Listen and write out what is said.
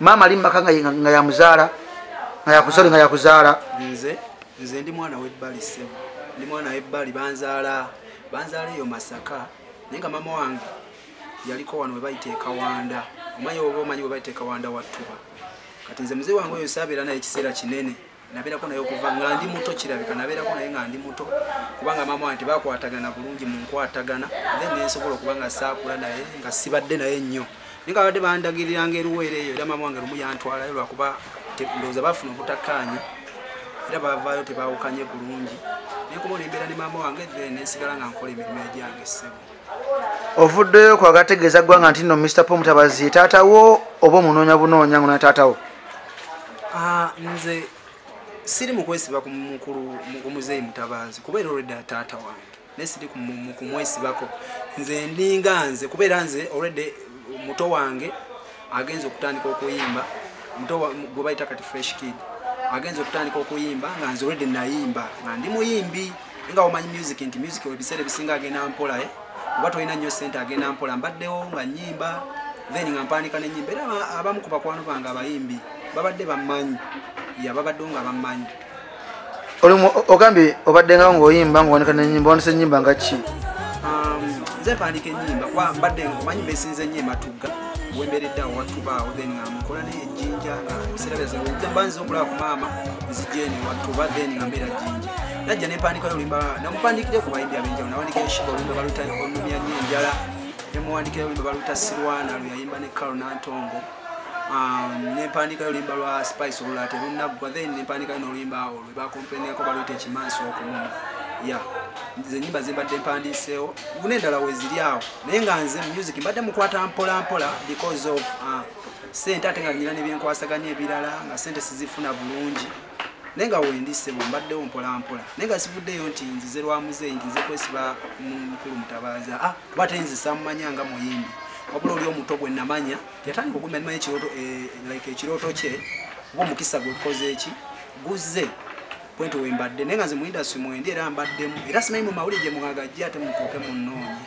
maama ali mumaka nga yamuzaala nga yakusole nga yakuzaala nze nze ndi mwana webbali sebo ndi mwana webbali banzaala banzaala eyo masaka naye nga maama wange yaliko wano webayita ekawanda omanyi oba omanyi webayita ekawanda wattuba kati nze muzee wange oyo saabeera naye ekiseera kinene nabeerako naye okuva nga ndi muto kirabika nabeerako naye nga ndi muto kubanga maama wange tebakwatagana bulungi mu nkwatagana the nensobola okuba nga saakula naye nga sibadde naye nnyo naye nga badde bandagiriranga eruweera eyo era maama wange lumu yantwalayo lwakuba ndowooza bafuna obutakkaanya era bavaayo tebawukanye bulungi naye kuba olembeera ne maama wange then nensigala nga nkola emirimu egyange ssebo ovuddeyo ku agategeeza ggwanga nti no mr po mutabazi ye taata wo oba omunoonya bunoonya ngo na taata wo ah, nze siri mukwesiba ku mukulu omuzeeyi mutabazi kuba era olwedda taata wange naye siri kumwesibako nze ndinga nze kuba era nze olwedde muto wange agenze okutandika okuyimba muto gwe bayita kati fresh kid agenze okutandika okuyimba nga nze olwedde nayimba nga ndi muyimbi nga omanyi music nti music ebiseera ebisinga agenda mpola e eh? oba tolina nnyo sente agenda mpola mbaddewo nga nyimba then nga mpandika nenyimba era abamu ku bakwano bange abayimbi babadde bammanyi yababaddewo nga bammanyi ogambye obadde nga ngaoyimba ngawanika nenyimba wandisa enyimba nga ki um, nze mpandika enyimba kuba mbadde omanyi besinza enyo ematugga wemberedde awo watubaawo then nga mukola naye ejinja nga ebiseera byazebanba nziza okulaba ku maama nzijeni watuba then nga mbeera jinja najja nempandikayo olimba namupandikire ku bayimbi abenjawulo nawandika enshiba olimba balutayo onumya nyo enjala nemuwandikira olimba baluta sirwana lweyayimba ne kalo nantongo um, nempandiika yoluyimba lwa spice olula terunaggwa then nempandiika noluyimba awo lwebakompeniako baluyita ekimansi okumuma ya nze nyimba zembadde mpandiiseewo guna endala weziri awo naye nga nze music mbadde mukwata mpola mpola because of uh, sente ate nga nyina nebyenkwasaganya ebirala nga sente sizifuna bulungi naye nga wendi ssebo mbaddewo mpolampola naye nga sivuddeyo nti nzize lwa muzeeyi nti nze kwesiba mukulu mutabaazi a kuba te nze samumanya nga muyimbi wabula oli omuto gwe namanya yatandika okumya nimanya ekirooto eh, like ekirooto kye oba omukisa gwe kukoze eki guzze kwenti wembadde naye nga nze mu indasitry mwendi era mbaddemu era simanyi mu mawulire gye mwagajja ate mutuuke munnoonye